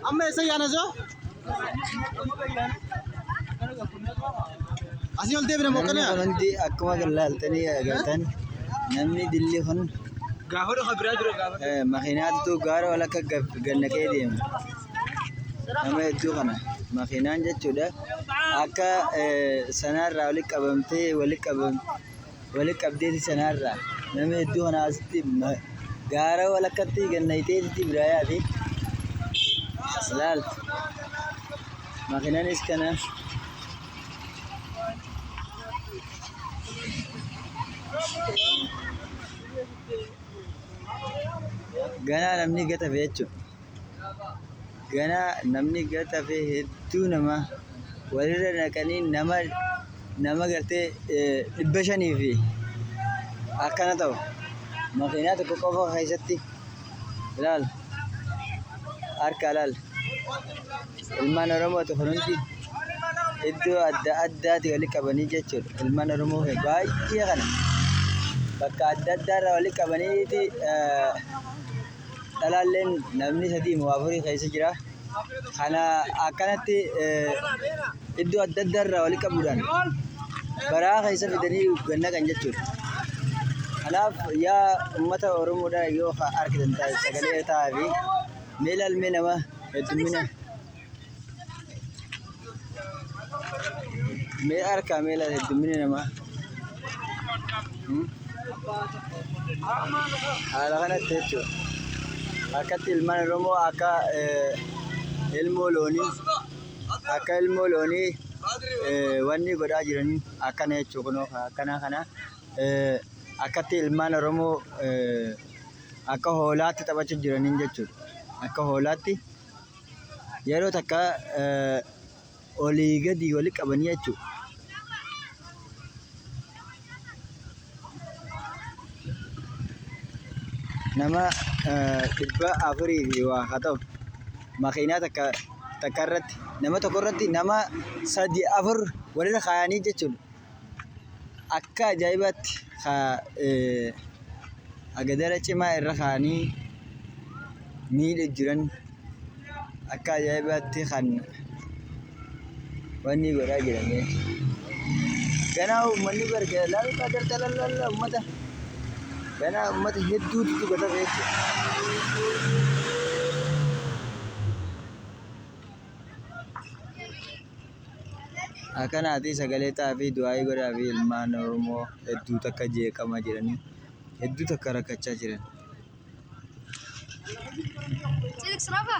Amma eessa yaana soo? Asii ol deebina moo Namni kana? kun hundi akkuma kan laaltanii agartan namni dilli kun Gaafa dhufa biraa jira gaafa. eh, makiinaatu gaara wal akka gab- gannaqee deema. Nama hedduu kana makiinaan jechuudha akka eh, sanaarraa walitti qabamtee walitti qabamtee Wali qabdeeti sanaarraa namni hedduu kanaa asitti gaara walakkatti gannayiteeti biraa yaate as laaltu. Makinaanis kana ganaa namni gatafe jechuudha. ganaa namni gad hafee hedduu nama walirra naqanii nama nama gartee eh, dhibba shanii fi akkana ta'u makiinaa tokko qofa keessatti ilaal harka ilaal ilmaan oromooti kun hundi iddoo adda addaati wali qabanii jechuudha ilmaan oromoo kun baay'ee kana bakka adda addaarra wali qabaniiti eh, dhalaalleen namni sadii moo afurii keessa jira. Kana akkanatti iddoo adda addaa irraa walitti qabuudhaan baraa keessa fidanii ganna kan jechuudha. Kanaaf yaa uummata Oromoodhaa yoo argitan sagalee ta'aa fi mee ilaalmee nama heddummina Mee harkaa mee laata heddumminni namaa. Haala kanatti jechuudha. Akkatti ilmaan Oromoo akka ilmoo loonii akka ilmoo loonii wanni godhaa jiranii akkana jechuudha kunoo akkanaa kana akkatti ilmaan Oromoo akka hoolaatti taphachaa jiraniin jechuudha. Akka hoolaatti yeroo takka olii gadi wali qabanii jechuudha. Nama dhibba afurii fi waa haa ta'u makiinaa takka takka irratti nama tokko irratti nama sadii afur walirra kaayanii jechuudha. akka ajaa'ibaatti agadara cimaa irra kaa'anii miidhaa jiran akka ajaa'ibaatti kan wanni godhaa jiran. Ganaa uummanni bar laal agarta laal laal uummata ganaa uummata hedduutu gubata beektu. Akkanaatii sagalee ta'aafii du'aayii godhaafii ilmaan Oromoo hedduu takka jeeqama jiranii hedduu takka rakkachaa jiran. Silks Rafa.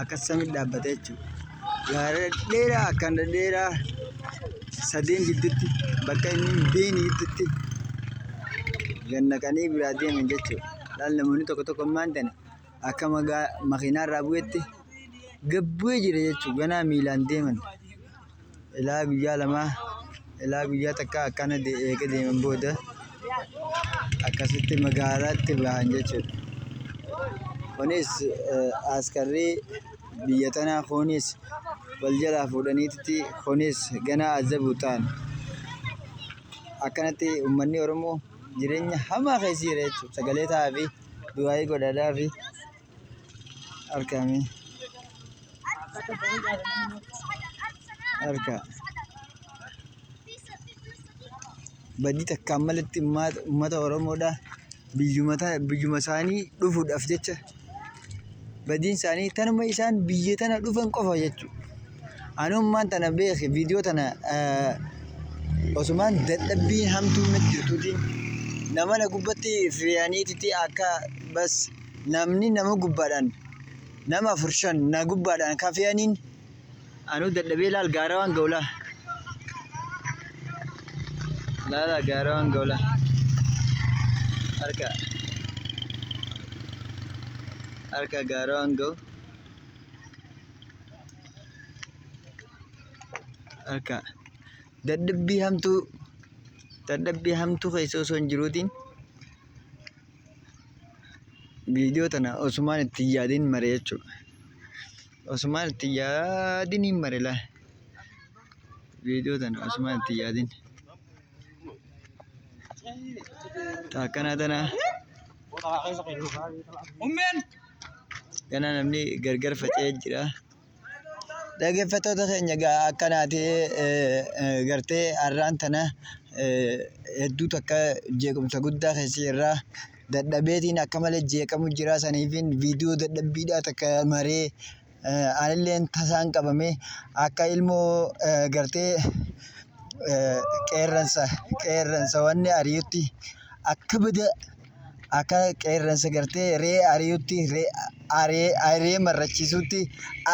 Akkas samii dhaabbata jechuudha. Gaara dhedheeraa akkaan dhedheeraa sadeen gidduutti bakka inni hin beekne gidduutti gad naqanii biraa deeman jechuudha. Laal namoonni tokko tokko ammaan tana akka magaa makiinaa irraa bu'etti gad bu'ee jira jechuudha ganaa miilaan deeman. Ilaa guyyaa lamaa ilaa guyyaa takkaa akkana eega deeman booda akkasitti magaalaatti bahan jechuudha. Kunis askarri biyya tanaa kunis wal jalaa fuudhaniitti kunis ganaa azabu ta'an. Akkanatti uummanni Oromoo jireenya hamaa keessa jira jechuudha. Sagalee ta'aa fi du'aayii godhaadhaa fi. Harkaa mee. Harkaa. Badii takkaan malitti ummaata- ummata Oromoodhaa biyyuma ta- biyyuma isaanii dhufuudhaaf jecha badiin isaanii tanuma isaan biyya tana dhufan qofa jechuudha. Ani ummaan tana beeke viidiyoo tana eh, osumaan dadhabbii hamtuu natti jirtuutiin nama na gubbatti fe'aniititi akka bas Namni nama gubbaadhaan nama afur shan na gubbaadhaan ka fe'aniin anuu dadhabee laal gaara waan ga'u laa. Laala gaara waan ga'u laa. Harka. Harka gaara waan ga'u. Harka. Dadhabbii hamtuu dadhabbii hamtuu keessa osoo hin jiruutiin. Viidiyoo tana osumaan itti hin yaadin mare jechuudha. Osumaan itti hin yaadin hin mare laa. Viidiyoo tana osumaan itti hin yaadin. Taakkana tana Ummeen! gana namni gargar faca'ee jira. Dhaggeeffattoota keenya egaa akkanaati gartee har'aan tana hedduu takka jeequmsa guddaa keessa jirra. Dadhabeetiin akka malee jeeqamu jira saniifiin viidiyoo dadhabbiidhaa takka maree anilleen tasaan qabame akka ilmoo gartee qeerransa qeerransa wanni ari'utti akka bada akka qeerransa gartee ree ari'utti ree marrachiisutti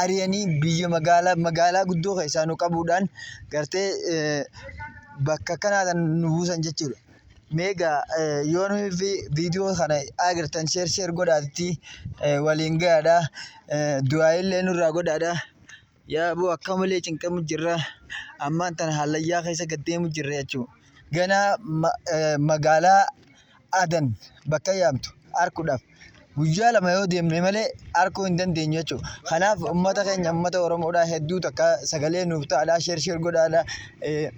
ari'anii biyya magaalaa magaalaa guddoo keessaa nu qabuudhaan gartee bakka kanaa nu buusan jechuudha. Meega yoo nuyi fi viidiyoo kana agartan sheer sheer godhaatti waliin gahaadha. Du'aa illee nurraa godhaadha. Yaa boo akka malee cinqamu jirra. Ammaan tana hallayyaa keessa gad deemu jirra jechuudha. Ganaa ma- eh, magaalaa Adan bakka yaamtu arkuudhaaf guyyaa lama yoo deemne malee arkuu hin dandeenyu jechuudha. Kanaaf uummata keenya uummata Oromoodhaa hedduu takka sagalee nuuf ta'aadhaa sheer sheer godhaadhaa. Eh,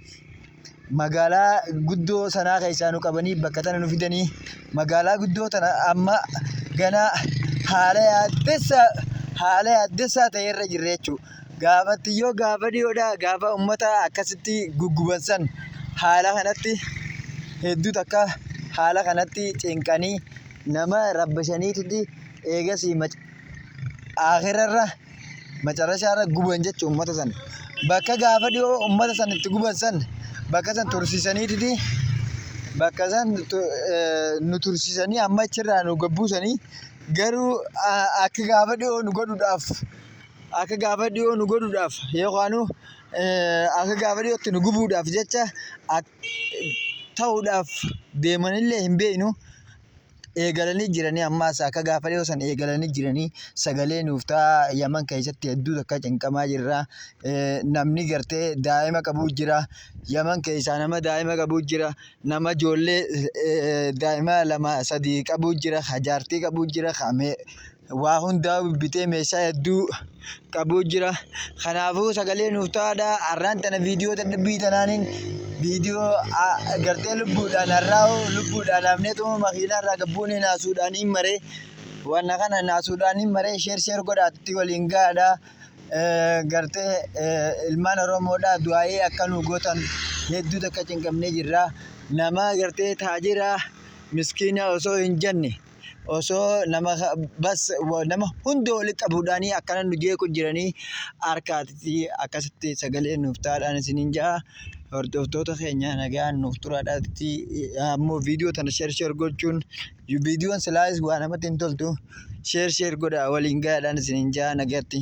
magaalaa guddoo sanaa keessaa nu qabanii bakka tana nu fidanii magaalaa guddoo tana amma ganaa haala yaaddessaa haala yaaddessaa ta'e irra jirra jechuudha. Gaafatti yoo gaafa dhiyoodhaa gaafa uummata akkasitti gugguban san haala kanatti hedduu takka haala kanatti cinqanii nama rabbashaniiti eegasii akirarra. macarashaa irra guban jechuun uummata san bakka gaafa dhiyoo uummata san itti guban san bakka san tursiisaniititi bakka san tu- eh, nu tursiisanii amma achirraa nu gabbuusanii garuu a- akka gaafa dhiyoo nu godhuudhaaf akka gaafa dhiyoo nu godhuudhaaf yookaanu eh, akka gaafa dhiyootti nu gubuudhaaf jecha ak- ta'uudhaaf deemanillee hin beeknu eegalanii jiranii ammaas akka gaafa dhiyoo san eegalanii jiranii sagalee nuuf ta'a yaman keessatti hedduu takka cinqamaa jirra namni gartee daa'ima qabuu jira yaman keessaa nama daa'ima qabuu jira nama ijoollee daa'ima lama sadii qabuu jira hajaartii qabuu jira waa hundaa bitee meeshaa hedduu qabuu jira. Kanaafuu sagalee nuuf ta'aadha. Arraan tana viidiyoo dadhabbii tanaanin viidiyoo gartee lubbuudhaan har'aa lubbuudhaan hafnee tuma makiinaa irraa gabbuunee naasuudhaan hin maree. Wanna kana naasuudhaan hin maree sheer sheer godhaatti waliin gahaadha. Gartee ilmaan Oromoodha du'aa'ee akka nu gootan hedduu takka cinqamnee jirra. Nama gartee taajira miskiina osoo hin jenne. osoo nama bas nama hunda walitti qabuudhaanii akkana nu jeequ jiranii harkaatti akkasitti sagalee nuuf taadhaan isiniin ja'a. Hordoftoota keenya nagaan nuuf turaadhaatti ammoo viidiyoo tana sheer sheer gochuun viidiyoon silaayis waa namatti hin toltu sheer sheer godhaa waliin gahaadhaan isiniin ja'a nagatti.